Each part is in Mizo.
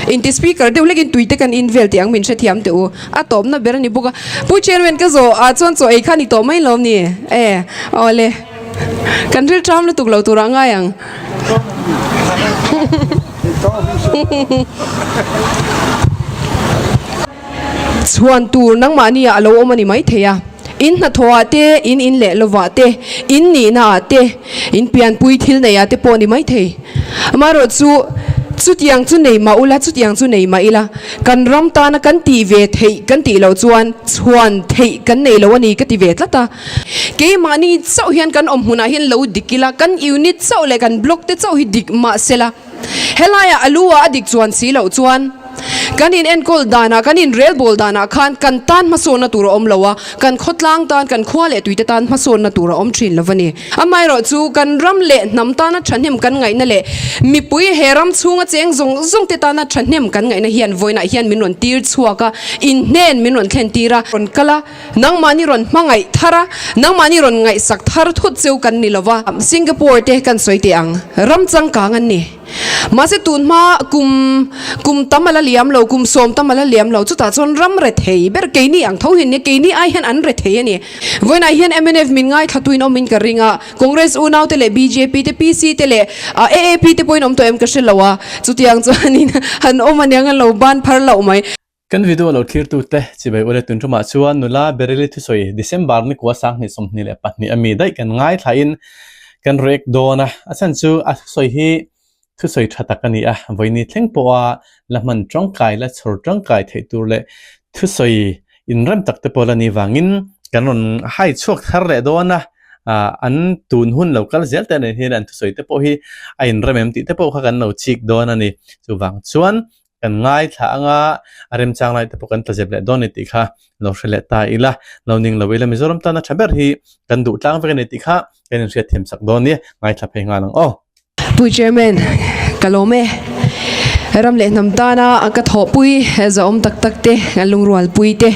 Inti speaker deuh lekin tui te kan in vel tih ang min hrethiam teh u. A tawpna ber a ni bawk a. Pu Chairman ka zawh ah chuan chaw ei kha ni tawh mai lo ni e. Awle. Kan ril ṭam lutuk lo tur ah ngai ang. Hum. Chhuan tur nangmahni ah a lo awm a ni maithei a. In hnathawh ah te, in in leh lo vah te, in nihna ah te, in pianpui thil nei ah te pawh a ni maithei. Amaherawh chu, chutiang chu nei mah ula, chutiang chu nei mah ila, kan ram tana kan tih ve theih kan tih loh chuan chhuan theih kan nei lo a ni ka ti ve tlat a. Keimahni chauh hian kan awm hmun ah hian lo dik ila, kan unit chauh leh kan block te chauh hi dik mahsela, Helaiah a lu a a dik chuan si loh chuan kan in enkawl danah, kan in rel bawl danah khan kan tan hmasawnna tur a awm lo a, kan khawtlang tan, kan khua leh tuite tan hmasawnna tur a awm thin lo va ni. Amaherawh chu kan ram leh hnam tana thahnem kan ngaihna leh mipui he ram chhunga cheng zawng zawng te tana thahnem kan ngaihna hian vawiinah hian min rawn tir chhuak a, inhnen min rawn thlen tir a, rawn kal a, Nangmahni rawn hmangaih thar a, nangmahni rawn ngaihsak thar thut chu kan ni lo va, Singapore te kan sawi teh ang, ram changkang an ni. Mahse tun hma kum kum tam a la liam lo, kum sawm tam a la liam lo, chutah chuan ram rethei ber, keini ang tho hian nia, keini ai hian an rethei a ni. Vawiinah hian mnf min ngaithlattuin awmin ka ring a, Congress unaute leh bjp te, PC te leh AAP te pawhin awm tawh em ka hre lo a, chutiang chuanin han awm aniang a lo ban phar loh mai. Kan video a lo thlirtu te, chibai u le tun ṭumah chuan nula Bereli thusawi December nikuah sanghnih sawmhnih leh pahnih a mi daih kan ngaithlahin kan rek dawn a, a chhan chu a thusawi hi thusawi ṭha tak a ni a, vawiini thleng pawha la hman ṭangkai, la chhawr ṭangkai theih tur leh thusawi inrem tak te pawh la ni vangin kan rawn hai chhuak thar leh dawn a, an tun hun lo kal zel te nen hian an thusawi te pawh hi a inrem em tih te pawh kha kan lo chik dawn a ni, chuvang chuan Kan ngaithla anga a remchang lai te pawh kan tlazep leh dawn ni tih kha lo hre leh ta ila, lo ning lo ila, Mizoram tan a tha ber hi kan duhtlang vek a ni tih kha kan inhriat thiam chak dawn nia, ngaithla phei nghal ang aw. Pui Chairman, ka lawm e. Ram leh hnam tana ka thawhpui zawhawm tak tak te, ka lungrualpui te,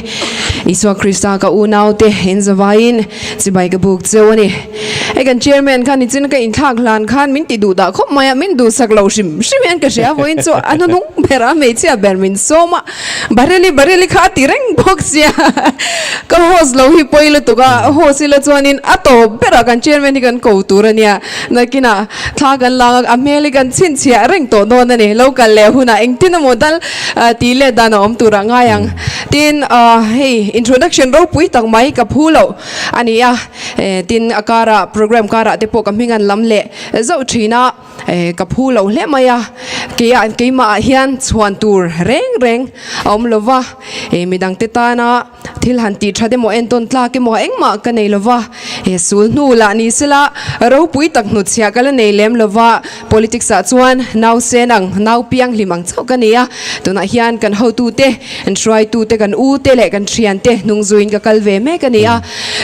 Isua Krista ka unaute, in zavaiin chibai ka buk cheu a ni. Hei kan chairman kha nichin ka inthlak hlan khan min ti duh dah khawp mai a, min duhsak lo hrim hrim hian ka hria vawiin chu a hnunung bera hmeichhia ber min sawm a, Bareli Bareli kha a ti reng bawk sia. Ka host lo hi pawi lutuk a, host ila chuanin a tawp berah kan chairman hi kan ko tur a nia, nakinah thla kan lak a, a hmel hi kan chhinchhiah reng tawh dawn a ni, lo kal leh hunah engtin emaw dal tih let dan a awm turah ngai ang. Tin hei introduction ropui tak mai ka phu loh a ni a. Tin, a karah, programme karah te pawh ka hming an lam leh zauh thin a, ka phu lo hle mai a. Keia, keimahah hian chhuan tur reng reng a awm lo va, mi dangte tana thil han tih that emaw, en tawn tlak emaw engmah ka nei lo va. Sulhnu lah ni sela, ropui tak hnutchhiah ka la nei lem lo va. Politics ah chuan nausen ang, nau pianghlim ang chauh ka ni a, tunah hian kan hotu te, kan hruaitu te, kan u te leh kan thian te hnung zui in ka kal ve mek a ni a.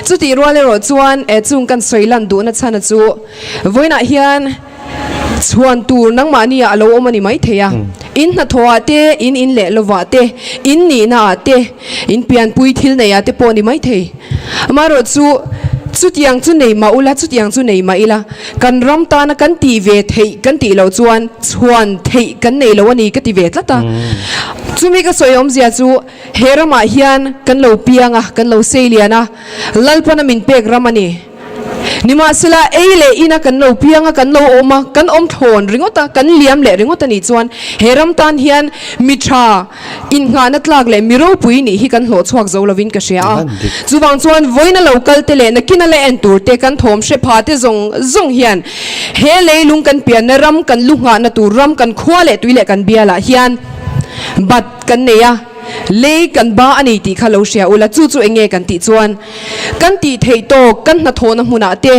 Chutih rual erawh chuan eh chung kan sawi lan duh na chhana chu vawiin ah hian chhuan tur nangmah ni ah a lo awm a ni maithei a. In hnathawh ah te, in in leh lovah te, in nihna ah te, In pianpui thil nei ah te pawh ni maithei. Amaherawh chu chutiang chu nei mah ula, chutiang chu nei mah ila, kan ram tana kan tih ve theih kan tih loh chuan chhuan theih kan nei lo a ni ka ti ve tlat a. Chumi ka sawi awm zia chu he ramah hian kan lo piang a, kan lo seilian a, Lalpana min pek ram a ni. Nimahsela, ei leh ina kan lo piang a, kan lo awm a, kan awm thlawn ringawt a, kan liam leh ringawt a nih chuan he ram tan hian mi tha inngahna tlak leh mi ropui nih hi kan hlawh chhuak zo lovin ka hria a. Chuvang chuan vawina lo kalte leh nakina la en tur te kan thawm hre pha te zawng zawng hian he leilung kan pianna ram, kan lu nghahna tur ram, kan khua leh tui leh kan bialah hian bat kan nei a. Lei kan ba a ni tih kha lo hria ula, chu chu eng nge kan tih chuan kan tih theih tawk kan hnathawhna hmunah te,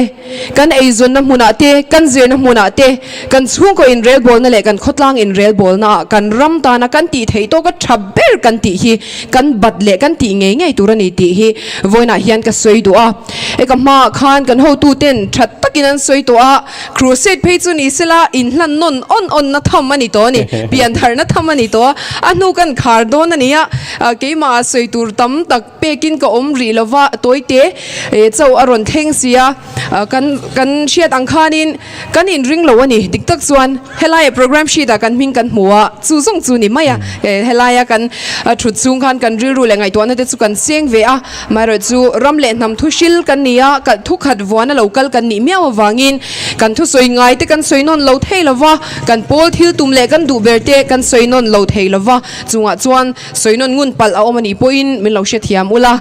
kan eizawnna hmunah te, kan zirna hmunah te, kan chhungkaw inrelbawlna leh kan khawtlang inrelbawlnaah kan ram tana kan tih theih tawka tha ber kan tih hi kan bat leh kan tih ngei ngei tur a ni tih hi vawiinah hian ka sawi duh a. Eka hmaah khan kan hotute'n that takin an sawi tawh a, Crusade phei chu ni sela, inhlan nawn awn awnna tham a ni tawh a ni, pianharhna tham a ni tawh a, a hnu kan khar dawn a ni a, keimah a sawi tur tam tak pekin ka awm rih lo va, Tawite e chauh a rawn thleng si a, kan kan hriat ang khanin kan inring lo a ni, dik tak chuan helaiah programme sheet-ah kan hming kan hmu a, chu zawng chu ni mai a, helaia kan thut chhung khan kan rilru leh ngaihtuahna te chu kan seng ve a. Mahra chu ram leh hnam thu hril kan ni a, kalh thu khat vuana lo kal kan nih miau avangin kan thusawi ngai te kan sawi nawn lo thei lova, kan pawl thil tum leh kan duh ber te kan sawi nawn lo thei lova, chungah chuan sawi nawn ngun palh a awm a nih pawhin min lo hrethiam ula,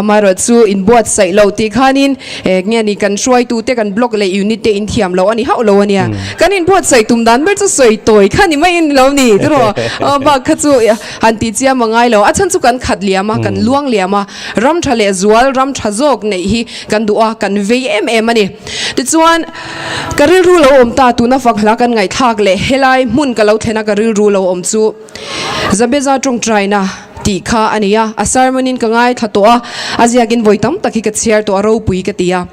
Mahra chu in buat saih lo tih khanin eh nge ni kan hruaitu te kan block leh unit te in thiam loh a ni hauh lo a nia, kan in buat saih tum dan ber chu sawi tawi kha ni mai in ni lo ni, ka rawh a bak kha chu. Han ti chiam a ngai lo. A chhan chu kan khat liam a, kan luang liam a. Ram tha leh zual, ram tha zawk neih hi kan duh a, kan vei em em a ni. Tichuan, ka rilru lo awm ta tuna fakhla kan ngaihthlak leh helai hmun ka lo thlen a ka rilru lo awm chu Zabeza tawngtaina tih kha a ni a. A sermon-in ka ngaithla tawh a, a ziakin vawi tam tak hi ka chhiar tawh a, ropui ka ti a.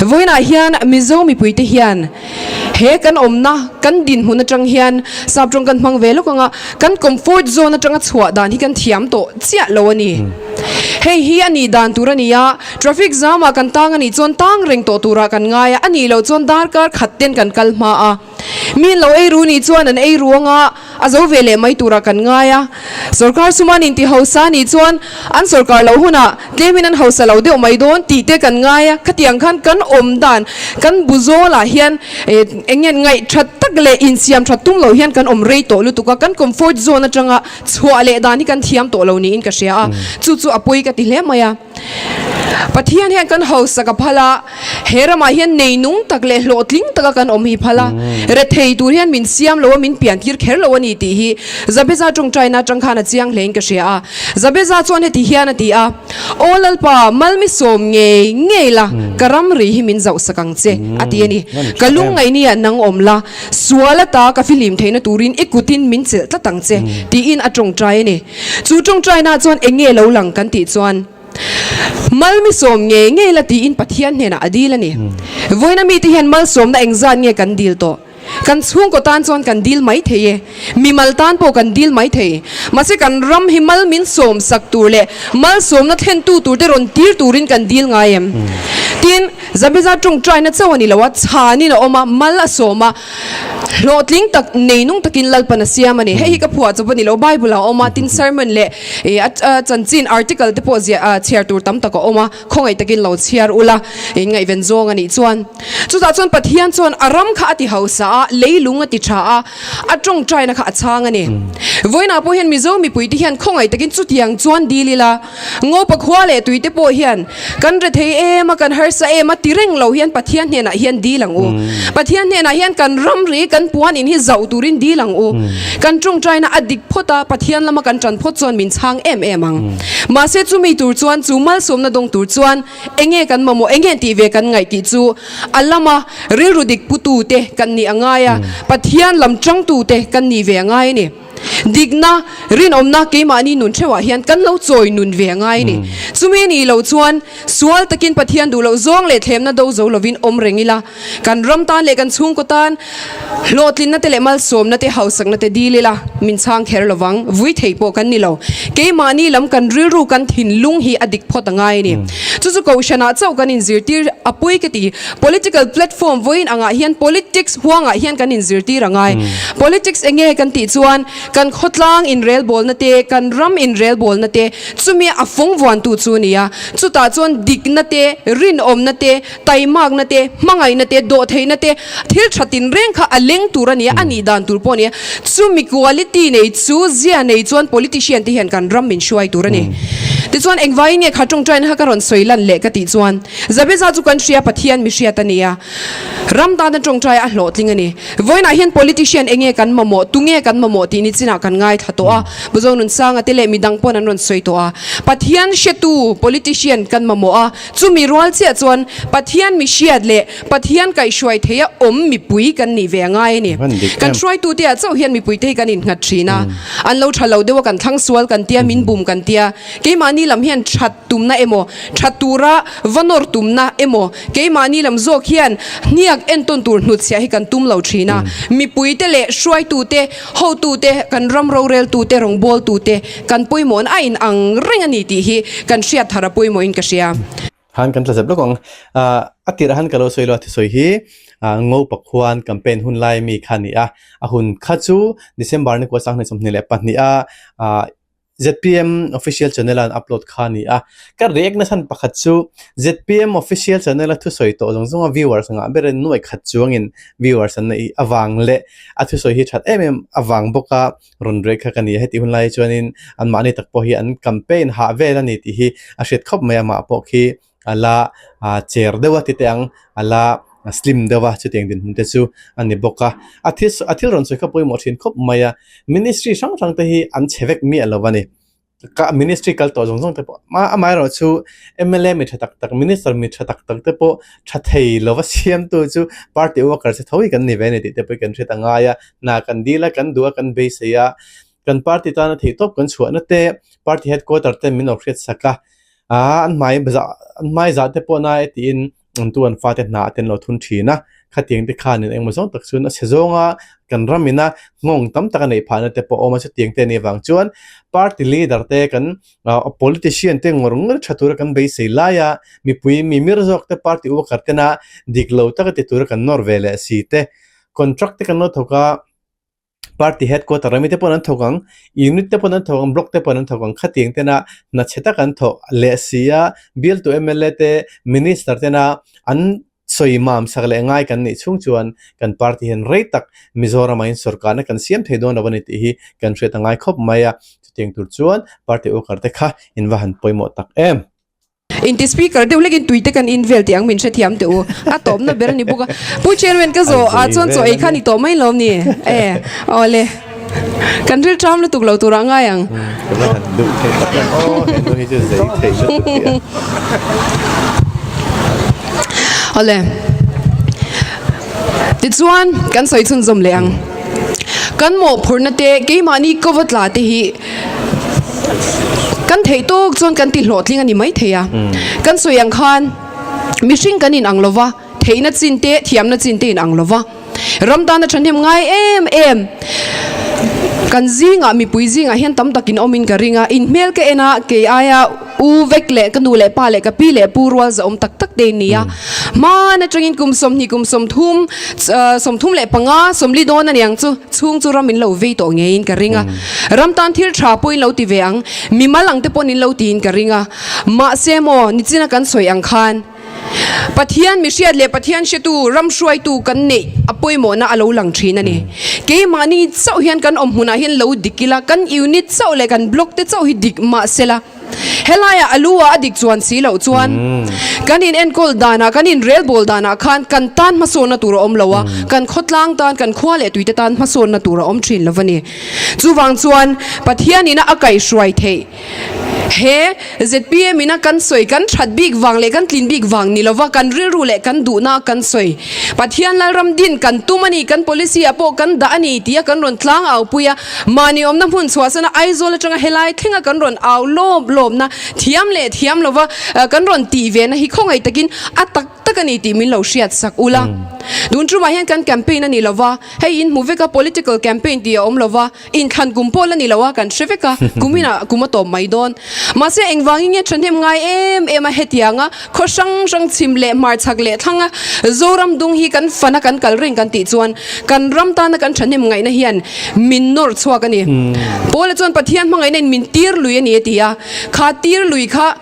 Vawiinah hian Mizo mipuite hian he kan awmna, kan dinhmun atang hian sap tawng kan hmang ve lawk ang a, kan comfort zone atanga chhuah dan hi kan thiam tawh chiah lo a ni. Hei hi a nih dan tur a ni a, traffic jam-ah kan tang a nih chuan tang reng tawh turah kan ngai a, a nih loh chuan darkar khatten kan kal hma a. Mi an lo ei ru nih chuan an ei ruang a, a zo ve leh mai turah kan ngai a. Sorkar suman intihausa nih chuan an sorkar lo hunah tlemin an hausa lo deuh mai dawn tih te kan ngai a. Khatiang khan kan awm dan, kan bu zawlah hian eng nge ngaihthat tak leh insiam that tum lo hian kan awm rei tawh lutuk a, kan comfort zone atanga chhuah leh dan hi kan thiam tawh lo niin ka hria a, chu chu a pawi ka ti hle mai a. Pathian hian kan hausak a phal a, he ramah hian neinung tak leh hlawhtling taka kan awm hi phal a, rethei tur hian min siam lo a, min piantir kher lo a ni tih hi Jabeza tawngtaina atang khan a chiang hlein ka hria a. Jabeza chuan heti hian a ti a, Aw Lalpa, Malmi sawm ngei ngei la, ka ram rih hi min zauh sak ang che, a ti a ni. Ka lungngaihni ah nang awm la, sual ata ka filim theihna turin i kutin min chelh tlat ang che, tiin a tawngtai a ni. Chu tawngtainah chuan eng nge lo lang kan tih chuan Malmisawm ngei ngei la tiin Pathian hnenah a dil a ni. Vawiina mite hian malsawmna eng zat nge kan dil tawh? Kan chhungkaw tan chuan kan dil mai thei e. Mimal tan pawh kan dil mai thei. Mahse kan ram hi mal min sawm sak tur leh malsawmna thlentu tur te rawn tir turin kan dil ngai em? Tin, Zabeza tawngtaina chauh a ni lo a, chhanin a awm a, mal a sawm a. Hlawhtling tak nei nung takin lalpan a siam a ni. Hei hi ka phuah chawp a ni lo. Bible ah a awm a, tin sermon leh ih a a chanchin article te pawh ziah ah chhiar tur tam tak a awm a, khawngaih takin lo chhiar ula ih ngaihven zawng a nih chuan. Chutah chuan Pathian chuan a ram kha a tihausa a, leilung a ti tha a, a tawngtaina kha a chhang a ni. Vawiinah pawh hian Mizo mipuite hian khawngaih takin chutiang chuan dil ila, Ngopa khua leh tuite pawh hian kan re thei em a, kan harsa em a ti reng lo hian Pathian hnenah hian dil ang u. Pathian hnenah hian kan ramri, kan puan in hi zauh turin dil ang u. Kan ṭawngṭaina a dik phawt a, Pathian lama kan ṭan phawt chuan min chhang em em ang. Mahse chumi tur chuan chu malsawmna dawng tur chuan enge kan mamawh, enge an tih ve kan ngaih tih chu a lama rilru dik putute kan nih a ngai a, Pathian lam ṭangtute kan nih ve a ngai a ni. Dikna, rinawmna keimahni nun theuhah hian kan lo chawi nun ve ngai a ni. Chumi nih lo chuan sual takin Pathian duhloh zawng leh thlemna do zo lovin awm reng ila, kan ram tan leh kan chhungkaw tan hlawhtlinna te leh malsawmna te, hausakna te dil ila min chhang kher lo vang. Vui thei pawh kan ni lo. Keimahni lam kan rilru kan thinlung hi a dik phawt a ngai a ni. Chu chu kohhranah chauh kan inzirtir a pui ka ti. Political platform vawiin angah hian politics huangah hian kan inzirtir a ngai. Politics enge kan tih chuan kan khawtlang inrelbawlna te, kan ram inrelbawlna te, chumi a fawngvuantu chu a ni a. Chutah chuan dikna te, rinawmna te, taimakna te, hmangaihna te, dawhtheihna te, thil tha tinreng kha a leng tur a ni a, a nih dan tur pawh a ni a. Chumi quality nei chu zia nei chuan politician te hian kan ram inhruai tur a ni. Tichuan engvaiin nge kha tawngtaina kha ka rawn sawi lan leh ka tih chuan Zaveza chu kan hria Pathian mihriat a ni a, ram dana tawngtaia a hlawhtling a ni. Vawiinah hian politician enge kan mamawh, tunge kan mamawh tih nichinah kan ngaithla tawh a, Buzo Nunsanga te leh midang pawn an rawn sawi tawh a, Pathian hretu politician kan mamawh a, chumi rual chiah chuan Pathian mihriat leh Pathian kaihhruai theia awm mipui kan nih ve a ngai a ni. Kan hruaitutea chauh hian mipuite hi kan innghat thin a, an lo tha lo deuh a, kan thlang sual kan tia, min bum kan tia, keimahni lam hian that, tumna emaw, that tura va nawr tumna emaw, keimahni lam zawk hian hniak en tawn tur hnutchhiah hi kan tum lo thin a. Mipuite leh hruaitute, hotute, kan ram roreltute, rawngbawltute kan pawimawhna a inang reng a ni tih hi kan hriat thar a pawimawhin ka hria. Han kan tla zep lawk ang. A tirh a han ka lo sawi lo a, thusawi hi Ngopa khuan campaign hun lai mi kha a ni a, a hun kha chu December ni kuasak hnaih sawmhnih leh pahniha zpm official channel an upload kha a ni a ka react na hran pakhat chu zpm official channel a thusawi tawh zawng zawng a viewers ngah ber in nuaih khat chuang in viewers an neih avang leh a thusawi hi that em em avang bawk a rawn react kha ka ni a heti hun lai hi chuan in an mahni tak pawh hi an campaign hah vel a ni tih hi a hriat khawp mai a mah pawh khi a la ah cher deuh a tite ang a la slim deuh a chutiang dinhmun te chu a ni bawk a a thil sawi a thil rawn sawi kha pawimawh thin khawp mai a ministry hrang hrang te hi an chhe vek miah lo a ni kah ministry kal tawh zawng zawng te pawh hma amah erawh chu mla mi tha tak tak minister mi tha tak tak te pawh tha thei lo va siamtu chu party worker che tho hi kan ni ve a ni tih te pawh hi kan hriat a ngai a hna kan dil a kan duh a kan beisei a kan party tana theihtawp kan chhuah nate party headquarter ten min awrh hriat sak a. Aa, an hmai za, an hmai za te pawh nai tiin an tu an fa te hna ten lo thun thin a. Khatiang te khan in engmaw zawng tak chuan a sezawng a kan ram in a nghawng tam tak a neih phah na te pawh a awm a chutiang te nih vang chuan party leader te kan politician te ngawr ngawr tha tur a kan beisei lai a mipui mimir zawk te party worker te na dik lo tak a ti tur a kan nawr ve leh si te contract te kan lo thawk a party headquarter rami te pawn an thawk ang unit te pawn an thawk ang block te pawn an thawk ang khatiang tena hnathchhe tak an thawk leh si a bial tu mla te minister tena an sawi mam sak leh ngai kan nih chhung chuan kan party hian rei tak mizorama in sawrkarna kan siam thei dawn lo a ni tih hi kan hriat a ngai khawp mai a chutiang tur chuan party ukar te kha in va han pawimawh tak em. Engti speaker deuh hlekin tui te kan invel tih ang min hrethiam teh u. A tawpna ber a ni bawk a. Pu Chairman ka zawh ah chuan chaw ei kha ni tawh mai lo ni e. Aw le. Kan ril ṭam lutuk lo tur ah ngai ang. Kan a han duh theih tak a. Aw he nu hi chu zei theih lutuk hi a. Aw le. Tichuan kan sawi chhunzawm leh ang. Kan mawhphurhna te keimahni cover tla te hi. Kan theih tawk chuan kan tihlawhtling a ni maithei a. Kan sawi ang khan mihring kan inang lo va, theihna chin te, thiamna chin te inang lo va. Ram tana thahnem ngai em em kan zingah, mipui zingah hian tam takin awmin ka ring a. In hmel ka en a, kei aia, U Vek leh ka nu leh pa leh ka pi leh pu rual zahawm tak tak te ni a, hman atangin kum sawmhnih, kum sawmthum, sawmthum leh panga sawmli dawn a ni ang chu, chhung chu ram in lo vei tawh ngeiin ka ring a, ram tan thil tha pawhin lo ti ve ang, mimal ang te pawhin lo tiin ka ring a, mahse maw nichin a kan sawi ang khan. Pathian mihriat leh Pathian hretu, ram hruaitu kan neih a pawimawhna a lo lang thin a ni. Keimahni chauh hian kan awm hunah hian lo dik ila, kan unit chauh leh kan block te chauh hi dik mah sela, helaia a lu ah a dik chuan si loh chuan kan in enkawl danah, kan in relbawl danah khan kan tan hmasawnna tur a awm lo a, kan khawtlang tan, kan khua leh tuite tan hmasawnna tur a awm thin lo a ni. Chuvang chuan Pathian in a kaihruai theih He zpm ina kan sawi kan that bik vang leh kan tlin bik vang ni lova kan rilru leh kan duhna a kan sawi. Pathian Lalram din kan tum a ni, kan policy ah pawh kan dah a ni tia kan rawn tlang au pui a. Mahni awmna hmun chhuahsana Aizawl atanga helai thlenga kan rawn au lawm lawmna thiam leh thiam lova kan rawn tih ve na hi khawngaih takin a tak tak a ni tih min lo hriat sak ula. Dun tumah hian kan campaign a ni lova, hei in hmu veka political campaign tih a awm lova, Inthlan kum pawl a ni lo a, kan hre vek a, kum in a kum a tawp mai dawn. Mahse, engvangin nge thahnem ngai em em a hetiang a, khaw hrang hrang chhim leh hmar chhak leh thlang a Zoram dung hi kan fan a kan kal reng kan tih chuan kan ram tana kan thahnem ngaihna hian min nawr chhuak a ni. Paula chuan Pathian hmangaihna in min tir lui a ni a ti a, kha tir lui kha,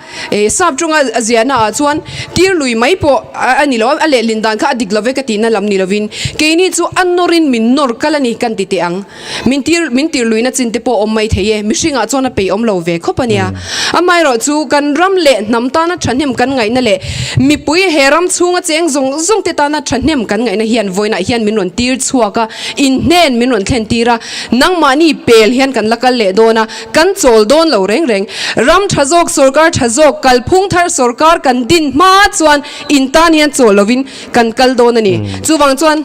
Sap ṭawngah a ziahna ah chuan tir lui mai pawh a ni lo, a lehlim dan kha a dik lo e ka tihna lam ni lovin keini chu a nawrin min nawr kal a ni kan ti teh ang. Min tir min tir luina chin te pawh awm mai thei e, mihringah chuan a peih awm lo ve khawp a nia. Amaherawh chu kan ram leh hnam tana ṭhahnem kan ngaihna leh mipui he ram chhunga cheng zawng zawng te tana ṭhahnem kan ngaihna hian vawiinah hian min rawn tir chhuak a, inhnen min rawn thlen tir a, nangmahni pel hian kan la kal leh dawn a. Kan chawl dawn lo reng reng. Ram tha zawk, sorkar tha zawk, kalphung thar sorkar kan din hma chuan in tan hian chawl lovin kan kal dawn a ni. Chuvang chuan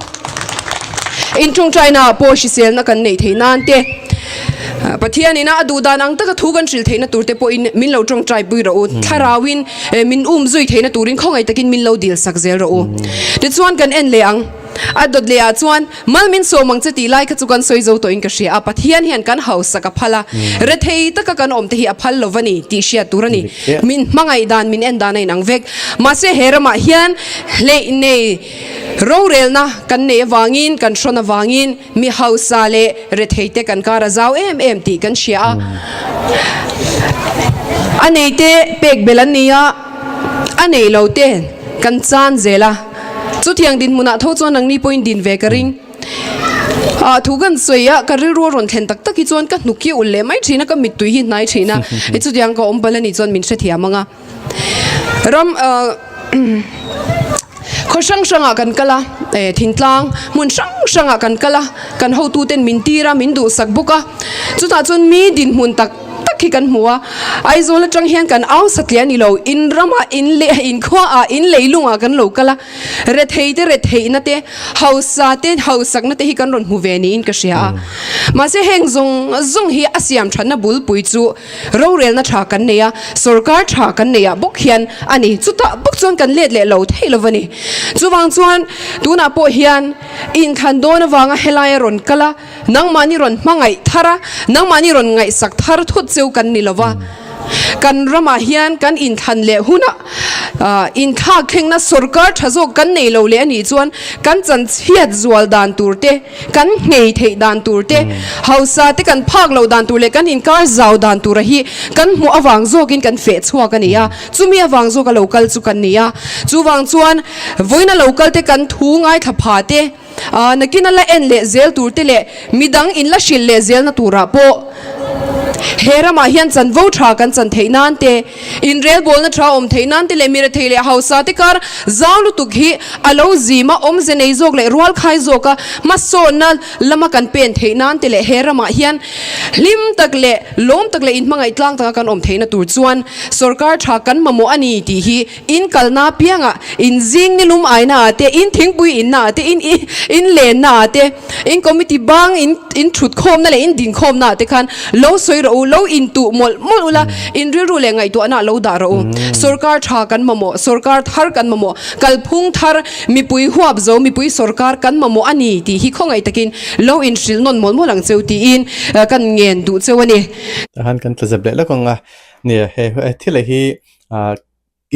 in tungtaina pawh hriselna kan neih theih nan te, Pathian ina a duh dan ang taka thu kan hrilh theihna tur te pawhin min lo tawngtai pui rawh u. Thlarauin min um zui theihna turin khawngaih takin min lo dil sak zel rawh u. Tichuan kan en leh ang. A dawt leh ah chuan Mal min sawm ang che tih lai kha chu kan sawi zo tawhin ka hria a, Pathian hian kan hausak a phal a, rethei taka kan awmte hi a phal lo va ni tih hriat tur a ni. Min hmangaih dan, min en dan a inang vek. Mahse he ramah hian hleih nei rorelna kan nei avangin, kan hrawn avangin mi hausa leh retheite kan kar a zau em em tih kan hria a, a neite pek belh an ni a. A neih lo te kan chan zel a, chu tiang dinhmunah tho chuan nangni pawhin din ve ka ring. Aah thu kan sawi a, ka rilru a rawn thlen tak tak hi chuan ka hnuk hi ul leh mai thin a, ka mittui hi hnai thin a. I chutiang ka awm pal a nih chuan min hrethiam ang a. Ram aah umm. Khaw hrang hrangah kan kal a, eh, thingtlang, hmun hrang hrangah kan kal a, kan hotute'n min tir a, min duhsak bawk a. Chutah chuan mi dinhmun tak tak hi kan hmu a, Aizawl atang hian kan au satliah a ni lo, in ramah, in leh, in khuaah, in leilungah kan lo kal a, rethei te retheihna te, hausa te hausakna te hi kan rawn hmu ve niin ka hria a. Mahse heng zawng zawng hi a siam thatna bulpui chu Rorelna tha kan nei a, sorkar tha kan nei ah bawk hian a ni. Chutah bawk chuan kan let leh lo theih lo a ni. Chuvang chuan tunah pawh hian i inthlan dawn avanga helai a rawn kal a, nangmahni rawn hmangaih thar a, nangmahni rawn ngaihsak thar thut cheu kan ni lo a. Kan ramah hian kan inthlan leh hunah inthlak thlengna sorkar tha zawk kan nei lo leh a nih chuan kan chanchhiat zual dan tur te, Kan nghei theih dan tur te, hausa te kan phak lo dan tur leh kan inkar zau dan tura hi kan hmuh avang zawkin kan feh chhuak a ni a. Chumi avang zawka lo kal chu kan ni a. Chuvang chuan vawiin a lo kal te kan thu ngai thla pha te, nakin a la en leh zel tur te leh midang in la hrilh leh zel na turah pawh he ramah hian chanvo tha kan chan theih nan te, Inrel bawlna tha awm theih nan te leh mira thei leh hausa te kar zau lutuk hi a lo zim a, awmze nei zawk leh rual khai zawka hmasawnna lama kan pen theih nan te leh he ramah hian hlim tak leh lawm tak leh inhmangaih tlang taka kan awm theihna tur chuan sorkar tha kan mamawh a ni tih hi inkalna apiangah inzing nilum aina ah te, inthingpui inna ah te, in inlenna ah te. in committee bang in in thut khawmna leh in din khawmna ah te khan lo sawi rawh u, lo in tuh mawlh mawlh ula in rilru leh ngaihtuahna ah lo dah rawh u. Sorkar tha kan mamawh, sorkar thar kan mamawh, kalphung thar, mipui huap zo, mipui sorkar kan mamawh a ni tih hi khawngaih takin lo in hrilh nawn mawlh mawlh ang cheu tiin kan ngen duh cheu a ni. Tah khan kan tla zep leh lawk ang a ni. He thil hi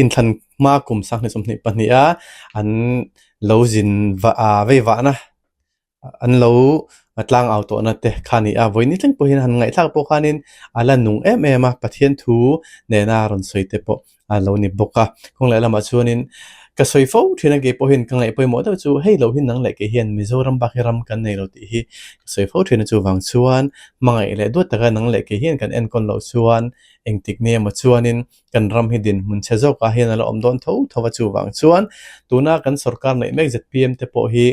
Inthlan hma kum sang hnesamhnih pahnih a an lo zin vei vahna, an lo tlang au tawhna te kha a ni a. Vawiin ni tling pawhin han ngaihthlak pawh khanin a la nung em em a, Pathian thu nena rawn sawi te pawh a lo ni bawk a. Kawng leh lamah chuanin ka sawi fo thin a, kei pawhin ka ngaih pawimawh deuh chu hei lohi nang leh kei hian Mizoram bak hi ram kan nei lo tih hi ka sawi fo thin a, chuvang chuan hmangaih leh duat taka nang leh kei hian kan enkawn loh chuan engtik nge emaw chuanin Kan ram hi dinhmun chhe zawkah hian a la awm dawn tho tho a, chuvang chuan tuna kan sorkar neih mek zpm te pawh hi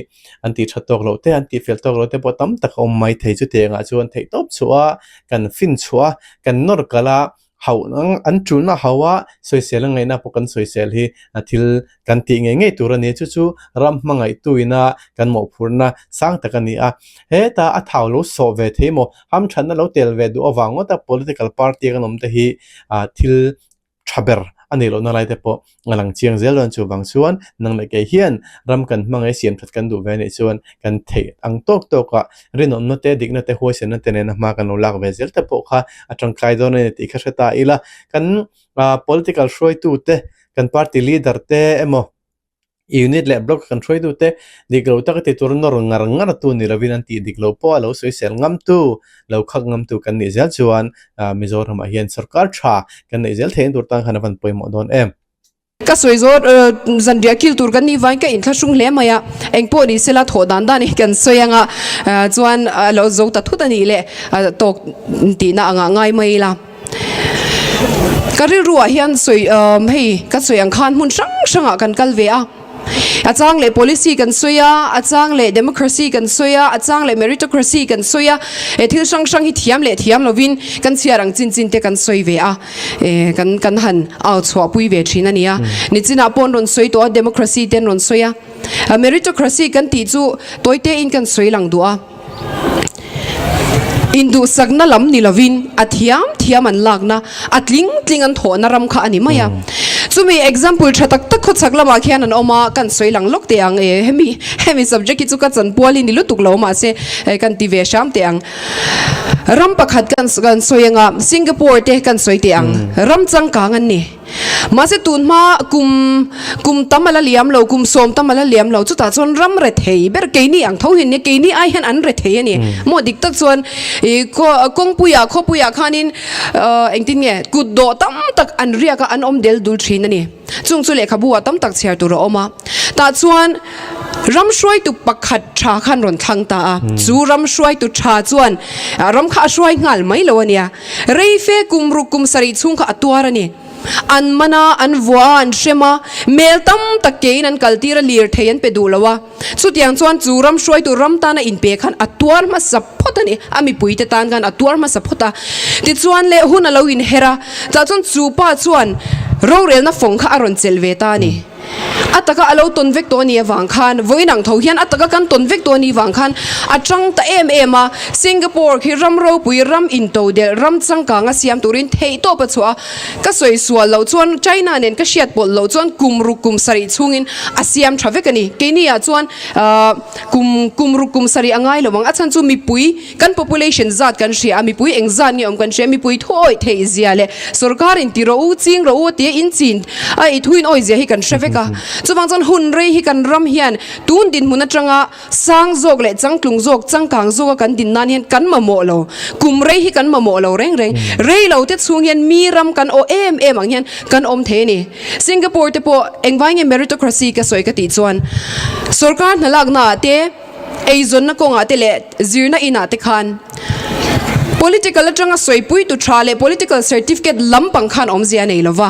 an tih tha tawk lo te, an tih fel tawk lo te pawh tam tak a awm mai thei chute ang ah chuan theih tawp chhuah a, kan fin chhuah a, kan nawr kal a, hauh an tunah hauh a sawisel a ngaihna pawh kan sawisel hi thil Kan tih ngei ngei tur a ni. Chu chu ram hmangaihtu ina kan mawhphurhna sang tak a ni a. Heta a thau lo sawh ve thei maw? Ham thatna lo tel ve duh avang ngawta political party a kan awmte hi thil tha ber a nei lohna lai te pawh a lang chiang zel dawn. Chuvang chuan nang leh kei hian ram kan hmangaih siam that kan duh ve a nih chuan kan theih ang tawk tawk a, rinawmna te, dikna te, huaisenna te nena hma kan lo lak ve zel te pawh kha a tangkai dawn a ni tih kha hre ta ila kan ah political hruaitute kan party leader te emaw unit leh block kan hruaitute dik loh taka ti tur nawr ngar ngar tu ni lovin an tih dik loh pawha lo sawisel ngam tu lo khak ngam tu kan nih zel chuan ah Mizoram ah hian sawrkar tha kan neih zel theihin tur tan khan a van pawimawh dawn em. Ka sawi zawt zanriah kil tur kan nih vain ka inthlak hrum hle mai a, eng pawh ni sela thawh dan dan hi kan sawi anga chuan a lo zo ta thut a nih leh tawk tihna a ngah ngai mai ila. Ka rilru ah hian sawi umm hei ka sawi ang khan hmun hrang hrang ah kan kal ve a, a chang leh policy kan sawi a, a chang leh democracy kan sawi a, a chang leh meritocracy kan sawi a, e thil hrang hrang hi thiam leh thiam lo in kan chhiar ang chin chin te kan sawi ve a, e kan kan han au chhuah pui ve thin a nia. Ni chin ah pawh an rawn sawi tawh a democracy te an rawn sawi a, meritocracy kan tih chu tawi te in kan sawi lang duh a. Induhsakna lam ni lovin a thiam thiam an lakna, a tling tling an thawhna ram kha a ni mai a. Chumi example tha tak tak khawchhak lamah khian an awm a, kan sawi lang lawk teh ang e, hemi hemi subject hi chu ka chan pual hi ni lutuk lo mahse kan ti ve hram teh ang. Ram pakhat kan kan sawi anga Singapore te kan sawi teh ang, ram changkang an ni. Mahse tunhma kum kum tam a la liam lo, kum sawm tam a la liam lo, chutah chuan ram re thei ber keini ang tho hian nia, keini ai hian an re thei a ni. Maw dik tak chuan i kawngpuia, khawpuia khanin engtin nge kut dawh tam tak an riak a, an awm del dul thin a ni. Chung chu lehkhabuah tam tak chhiar tur a awm a. Tah chuan ram hruaitu pakhat tha khan rawn thlang ta a, chu ram hruaitu tha chuan ram kha a hruai nghal mai lo a nia. Rei fe kum ruk kum sarih chhung kha a tuar a ni. An man a, an vua a, an hrem a, mel tam tak keiin an kal tir a, lir thei an pe duh lo a. Chutiang chuan chu ram hruai tur ram tana in pe khan a tuar hmasa phawt a ni. A mipui te tan khan a tuar hmasa phawt a. Tichuan le hun a lo in her a, tah chuan chu pa chuan rorelna fawng kha a rawn chelh ve ta a ni. A taka a lo tawn vek tawh a nih avang khan vawiin ang tho hian a taka kan tawn vek tawh a nih vang khan a chang ta em em a. Singapore khi ram ropui, ram into delh, ram changkanga siam turin theih tawp a chhuah a. Ka sawi sual loh chuan China nen ka hriat pawlh loh chuan kum ruk kum sarih chhungin a siam tha vek a ni. Keini ah chuan kum kum ruk kum sarih a ngai lo ang a chhan chu mipui, Kan population zat kan hria a, mipui eng zat nge awm kan hria, mipui thu awih theih zia leh sorkar in ti rawh u, ching rawh u tia in chin a i thu in awih zia hi kan hre vek a. Chuvang chuan hun rei hi kan ram hian tun dinhmun atanga sang zawk leh changtlung zawk, changkang zawk a kan din nan hian kan mamawh lo. Kum rei hi kan mamawh lo reng reng. Rei lo te chhung hian mi ram kan aw em em ang hian kan awm thei a ni. Singapore te pawh engvai nge meritocracy ka sawi ka tih chuan sorkar hna laknaah te, eizawnna kawngah te leh zirna inah te khan Political atanga sawipuitu tha leh Political Certificate lampang khan awmzia nei lova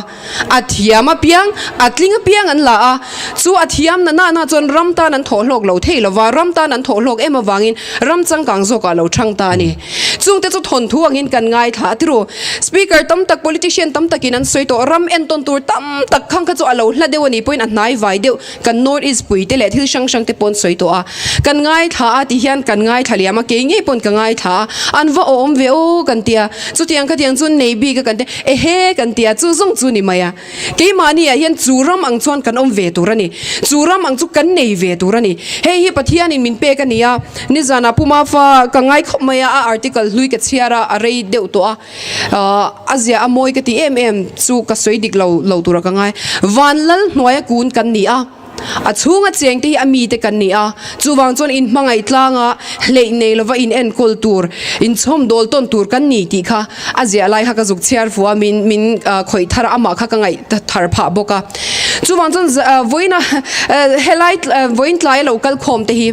a thiam apiang a tling apiang an la a, chu a thiamna nana chuan ram tan an thawh hlawk lo thei lova, ram tan an thawh hlawk em avangin ram changkang zawkah lo thang ta a ni. Chungte chu thawnthu angin kan ngaithla a tiro Speaker tam tak, Politician tam takin an sawi tawh ram entawn tur tam tak khang kha chu a lo hla deuh a ni pawhin a hnai vai deuh Kan North East puite leh thil hrang hrangte paw'n sawi tawh a, kan ngaithla a, tihian kan ngaithla leh ama kei ngei paw'n ka ngaithla a, an va awm ve aw kan ti a, chutiang kha tiang chuan nei bik a kan ti a, ehe kan ti a, chu zawng chu ni mai a, keimahniah hian chu ram ang chuan kan awm ve tur a ni, chu ram ang chu kan nei ve tur a ni, hei hi Pathianin min pek a ni a, nizanah Puma fa ka ngai khawp mai a, a article hlui ka chhiar a, a rei deuh tawh a. A ziah a mawi ka ti em em chu ka sawi dik lo lo tura ka ngai. Van lal hnuaia kun kan ni a, a chhunga cheng te hi a mite kan ni a, chuvang chuan in hmangaih tlanga hleih nei lova in enkawl tur, in chhawm dawl tawn tur kan ni tih kha a ziah lai kha ka zuk chhiar fua min min khawih thar amah kha ka ngaih thar phah bawk a. Chuvang chuan vawiin a helai vawiin tlai a lo kal khawm te hi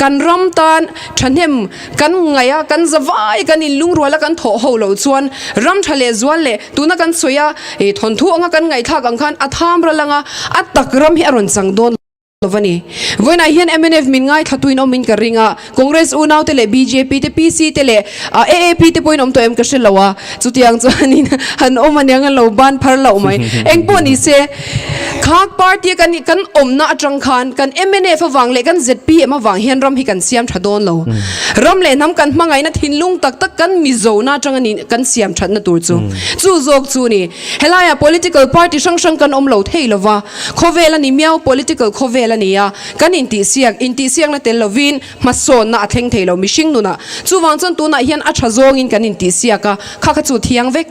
kan ram tan thahnem Kan ngaih a, kan za vai, kan inlungrual a kan thawh ho lo chuan ram tha leh zual leh tuna kan sawi a ih thawnthu anga kan ngaihthlak ang khan a tham ral anga a tak ram hi a rawn chang dawn lo va ni. Vawiinah hian mnf min ngaithlattuin awmin ka ring a, Congress unaute leh bjp te, PC te leh aap te pawhin awm tawh em ka hre lo a, Chutiang chuanin han awm aniang an lo ban phar loh mai. Engpawh ni se, khak party kan nih kan awmna atang khan kan MNF avang leh kan zpm avang hian ram hi kan siam tha dawn lo. Ram leh hnam kan hmangaihna thinlung tak tak kan Mizona atang a ni kan siam thatna tur chu. Chu zawk chu ni. Helaiah political party hrang hrang kan awm lo thei lova, khawvel a ni miau, political khawvel a nia kan intihsiak, intihsiakna tel lovin, hmasawnna a thleng thei lo mihring nuna. Chuvang chuan tunah hian a tha zawngin kan intihsiak a, kha kha chu thiang vek.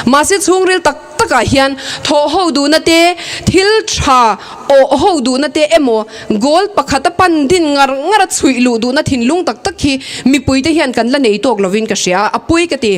Mahse chhungril tak takah hian thawh ho duhna te, thil tha awh ho duhna te emaw, goal pakhat a pan din ngar ngar a chhuih luh duhna thinlung tak tak hi mipuite hian kan la nei tawk lovin ka hria a, a pui ka ti.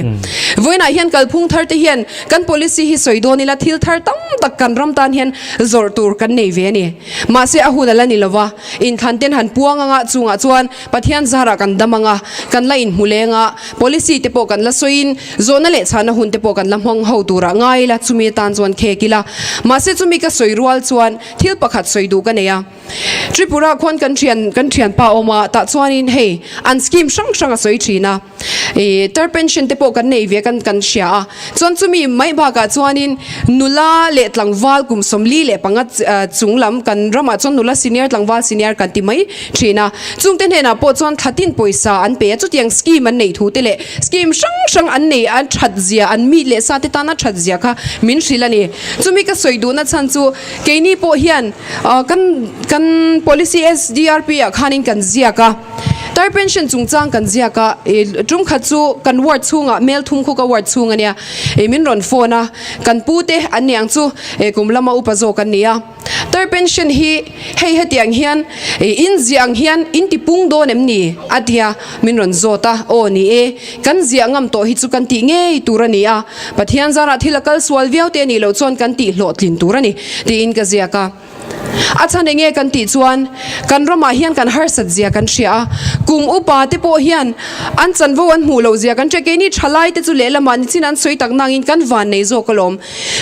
Vawiinah hian kalphung thar te hian kan policy hi sawi dawn ila thil thar tam tak kan ram tan hian zawrh tur kan nei ve a ni. Mahse a hun a la ni lova. Inthlanten han puang ang a, chungah chuan Pathian zarah kan dam ang a, kan la inhmu leng a, policy te pawh kan la sawiin zawhna leh chhahna hun te pawh kan la hmang ho tur a ngai ila chumi atan chuan khek ila. Mahse chumi ka sawi rual chuan thil pakhat sawi duh ka nei a, Tripura khuan kan thian kan thianpa awma tah chuanin hei an scheme hrang hrang a sawi thin a, Ih tar pension te pawh kan nei ve kan kan hria a, chuan chumi mai bakah chuanin nula leh tlangval kum sawmli leh panga chung lam kan ramah chuan nula senior tlangval senior kan ti mai thin a, chungte hnenah pawh chuan thla tin pawisa an pe a, chutiang scheme an nei thu te leh scheme hrang hrang an nei a that zia an mi leh sa te tana that zia kha min hrilh a ni, chumi ka sawi duhna chhan chu keini pawh hian kan kan policy SDRP ah khanin kan ziak a. Tar pension chungchang kan ziak a, i tum khat chu kan ward chhungah Mel Thumkhuka ward chhung a nia, i min rawn phone a, kan pu te an niang chu i kum lama upa zawk an ni a, tar pension hi hei hetiang hian i inziah ang hian in ti pung dawn em ni a tia min rawn zawt a, aw ni e, kan ziah ngam tawh hi chu kan tih ngei tur a ni a, Pathian zara thil a kal sual viau te a nih loh chuan kan tih hlawhtlin tur a ni, tiin ka ziak a. A chhan enge kan tih chuan kan ramah hian kan harsat zia kan hria a, kum upa te pawh hian an chanvo an hmuh loh zia kan hria. Keini tha lai te chu lehlamah nichin an sawi tak nangin kan van nei zawk alawm.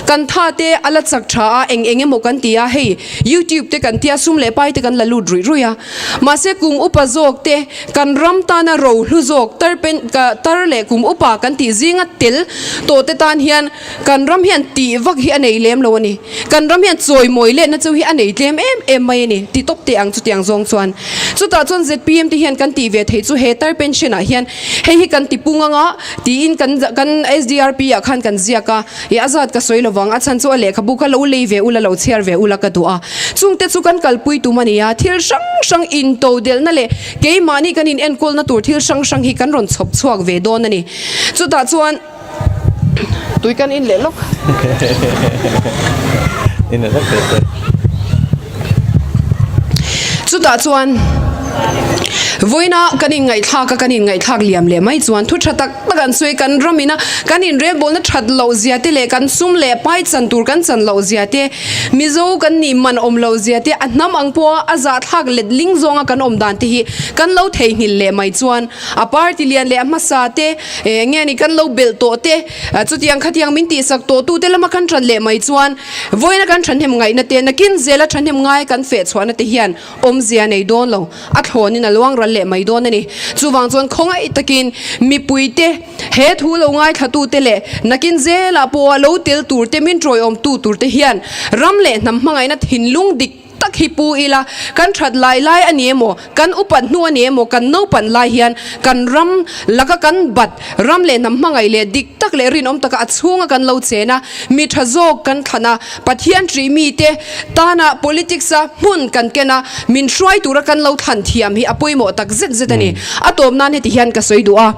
Kan tha te a la chak tha a, eng eng emaw kan ti a, hei YouTube te kan ti a, sum leh pai te kan la lut ruih ruih a. Mahse kum upa zawk te kan ram tana rohlu zawk tar pen tar leh kum upa kan tih zinga tel tawh te tan hian, Kan ram hian tih vak hi a nei lem lo a ni. Kan ram hian chawimawi letna chu hi a nei tlem em em mai a ni ti tawp teh ang chutiang zawng chuan. Chutah chuan zpm te hian kan tih ve thei chu he tar pension ah hian hei hi kan ti pung ang a tiin kan kan SDRP ah khan kan ziak a. I a zat ka sawi lo vang a chhan chu a lehkhabu ka lo lei ve ula lo chhiar ve ula ka duh a. Chung te chu kan kalpui tum a ni a thil hrang hrang in to delhna leh keimahni kan in enkawlna tur thil hrang hrang hi kan rawn chhawp chhuak ve dawn a ni. Chutah chuan. Tui kan in leh lawk. Chutah chuan vawiina kan in ngaihthlak a, kan in ngaihthlak liam leh mai chuan thu tha tak tak an sawi kan ram in a, kan in relbawlna that loh zia te leh kan sum leh pai chan tur kan chan loh zia te, Mizo kan nih man awm lo zia te, a hnam ang pawha a zahthlak let ling zawnga kan awm dan te hi kan lo theihnghilh leh mai chuan a party lian leh a hmasa te, E eng nge ni kan lo belh tawh te, chutiang khatiang min tihsak tawh tute lama kan ṭan leh mai chuan vawiina kan ṭhahnem ngaihna te, nakin zela ṭhahnem ngai kan feh chhuahna te hian awmzia nei dawn lo, a thlawnin a luangral leh mai dawn a ni. Chuvang chuan khawngaih takin mipuite, he thu lo ngaithlatute leh nakin zela pawha lo tel turte min ṭawiawmtu turte hian ram leh hnam hmangaihna thinlung dik, tak hi pu ila kan that lai lai a ni emaw, kan upat hnu a ni emaw, kan naupang lai hian kan ram laka kan bat, ram leh hnam hmangaih leh dik tak leh rinawm taka a chhunga kan lo chen a, mi tha zawk kan thlan a, Pathian ṭih mite tana politics a hmun kan ken a, min hruai tura kan lo thlan thiam hi a pawimawh tak zet zet a ni. A tawp nan heti hian ka sawi duh a,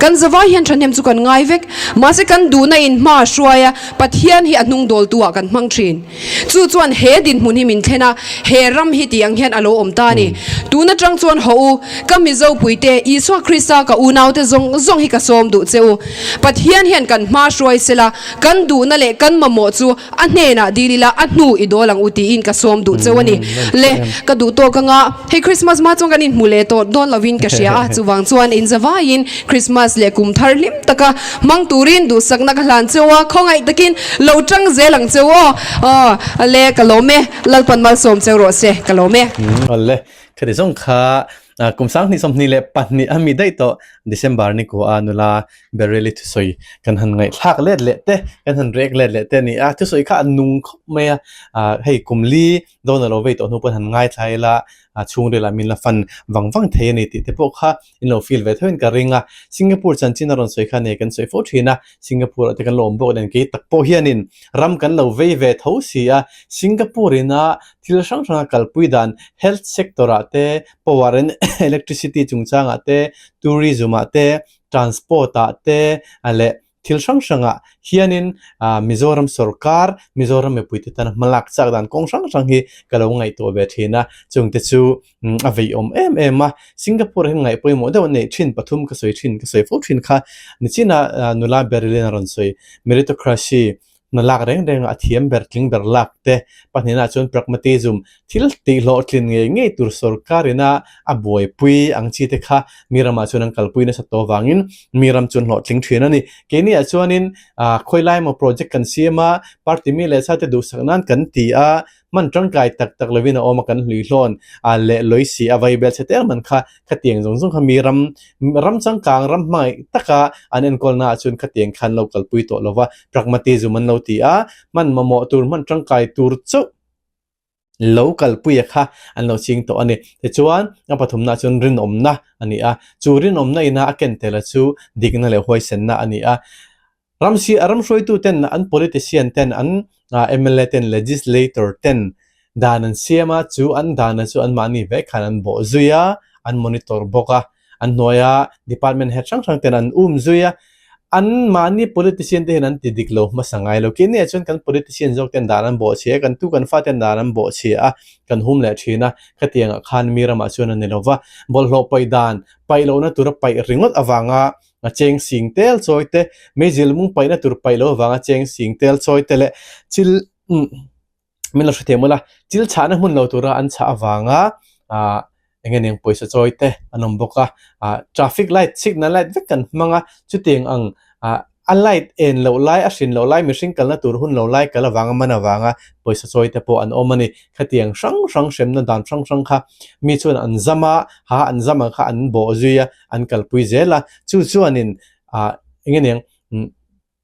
kan zava hian ṭhahnem chu kan ngai vek, mahse kan duhna in hma a hruai a, Pathian hi a hnung dawltu ah kan hmang ṭhin. Chu chuan he dinhmun hi min thlen a, he ram hi ti ang hian a lo awm ta a ni. Tun atang chuan hawh u, ka mizo puite, Isua Krista ka unaute zawng zawng hi ka sawm duh che u. Pathian hian kan hmahruai se la, kan duhna leh kan mamawh chu a hnenah dil ila a hnu i dawl ang u tiin ka sawm duh che u a ni. Le, ka duh tawh ka ngah. Hei Krismas hma chuan kan inhmu leh tawh dawn lovin ka hria a, chuvang chuan inzavaiin Krismas leh kum thar hlim taka Hmang turin duhsakna ka hlan cheu a, khawngaih takin lo ṭang zel ang cheu aw. Aw, le ka lawm e, Lalpan malsawm cheu rawh se, ka lawm e. Aw le, khati zawng kha kum sang hnih sawmhnih leh pahnih a mi daih tawh December ni kua a nula Bereli thusawi kan han ngaihthlak let leh te, kan han rek let leh te a ni a. Thusawi kha a nung khawp mai a, hei kum li dawn a lo vei tawh hnu pawn han ngaithlai ila chhungrel ah min la fan vang vang thei a ni tih te pawh kha in lo feel ve theuhin ka ring a Singapore chanchin a rawn sawi khan hei kan sawi fo thin a Singapore ah te kan lo awm bawk nen kei tak pawh hianin ram kan lo vei ve tho si a Singapore in a thil hrang hrang a kalpui dan health sector ah te power and electricity chungchang ah te tourism ah te transport ah te leh Thil hrang hrangah hianin Mizoram sorkar, Mizoram mipuite tan a hmalak chak dan kawng hrang hrang hi ka lo ngaihtuah ve thin a, chung te chu a veiawm em em a. Singapore-ah hian ngaih pawimawh deuh a neih thin pathum ka sawi thin, ka sawi fo thin kha, nichinah nula Berylin-a rawn sawi, Meritocracy, Hna lak reng reng a thiam ber tling ber lak te pahnihna chuan pragmatism, thil tih hlawh tlin ngei ngei tur sorkar in a a buaipui ang chi te kha mi ramah chuan an kalpui nasa tawh vangin mi ram chuan hlawh tling thin a ni. Keini ah chuan in khawilaia maw project kan siam a, party mi leh sa te duhsak nan kan ti a, Hman tangkai tak tak lovin a awma kan hluihlawn a leh lawi si a vai bel che tel man kha khatiang zawng zawng kha mi ram ram changkang ram hmangaih taka an enkawlnaah chuan khatiang khan lo kalpui tawh lova pragmatism an lo ti a, hman mamawh tur hman tangkai tur chauh lo kalpuia kha an lo ching tawh a ni. Tichuan a pathumna chuan rinawmna a ni a, chu rinawmna ina a ken tel a chu dikna leh huaisenna a ni a. Ramsi a ramhruaitu ten an politician ten an mla ten legislator ten dan an siam a, chu an dan a chu an mahni ve khan an bawh zui a, an monitor bawk a, an hnuaia department head hrang hrang ten an um zui a, an mahni politician te hian an ti dik lo hmasa ngai lo. Kei neiah chuan kan politician zawk ten dan an bawh chhi a, kan tu kan fa ten dan an bawh chhi a, kan hum leh thin a, khatiang ah khan mi ramah chuan a ni lo va, bawlhhlawh pawi dan paih lohna tura paih ringawt avanga A cheng sing tel chawi te, meizil mung paihna tur paih loh avanga cheng sing tel chawi te leh chil min la hre thei mawla chil chhahna hmun lo tura an chhah avanga eng eng pawisa chawi te an awm bawk a, traffic light signal light vek kan hmang a, chutiang ang a light en loh lai a hrin loh lai mihring kalna tur hun loh lai kal avanga man avanga pawisa chawi te pawh an awm a ni. Khatiang hrang hrang hremna dan hrang hrang kha mi chuan an zam a, ha an zam ang kha an bawh zui a. an kalpui zel a, chu chuanin ah eng nge ning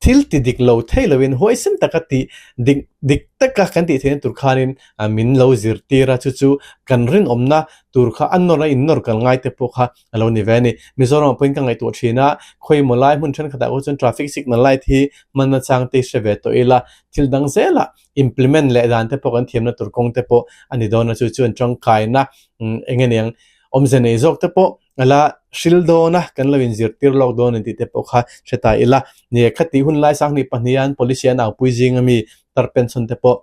thil ti dik lo thei lovin huai sem taka ti dik dik taka kan tih theihna tur khanin min lo zirtir a, chu chu kan rinawmna tur kha a nawr a innawr kal ngai te pawh kha a lo ni ve a ni. Mizoram ah pawhin ka ngaihtuah thin a, khawimaw lai hmun thenkhatah pawh chuan traffic signal light hi hman achang te hi hre ve tawh ila, thil dang zela implement leh dan te pawh kan thiamna tur kawng te pawh a ni dawn a, chu chuan tangkaina eng nge ning. Awmze nei zawk te pawh a la hril dawn a, kan lo inzirtir lawk dawn ani tih te pawh kha hre ta ila. Ni e, khati hun lai sang hnih pahnih hian policy an aupui zing a mi tar pension te pawh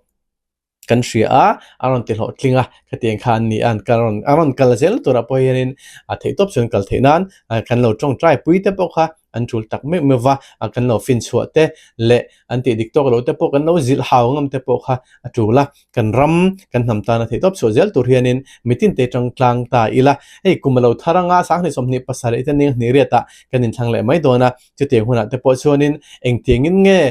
kan hria a, a rawn ti hlawh tling a, khati engkha an ni an kan rawn an rawn kal zel turah pawh hianin a theih tawp chuan kal theih nan kan lo tawngtai pui te pawh kha an tul tak meuh meuh va a kan lo fin chhuah te leh an tih dik tawk lo te pawh kan lo zilh hau ngam te pawh kha a tul a, kan ram kan hnam tana theih tawp chhuah zel tur hianin mitin te atang tlang ta ila hei kum a lo thar anga sang hnih sawm hnih pasal leh hitin eng hnih riatah kan inthlang leh mai dawn a, chutiang hunah te pawh chuanin engtiangin nge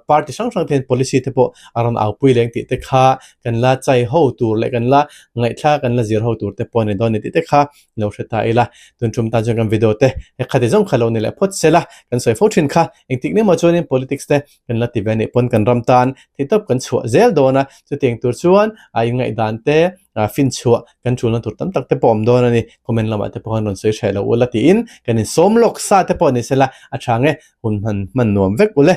party hrang hrang ten policy te pawh a rawn au pui leng tih te kha kan la chai ho tur leh kan la ngaihthlak a kan la zir ho tur te pawh a ni dawn a ni tih te kha lo hre ta ila tun tum tan chuan kan video te he khati zawng kha lo ni leh phawt sela kan sawi fo thin kha engtik nge maw chuanin politics te kan la ti ve anih pawn kan ram tan thei tawp kan chhuah zel dawn a chutiang tur chuan a in ngaih dan te a fin chhuah kan tulna tur tam tak te pawh awm dawn ani comment lamah te pawh khan rawn sawi hreh lo ula tiin kan in sawm lawk sa te pawh ni sela a tha nge hun han hman nuam vek ule.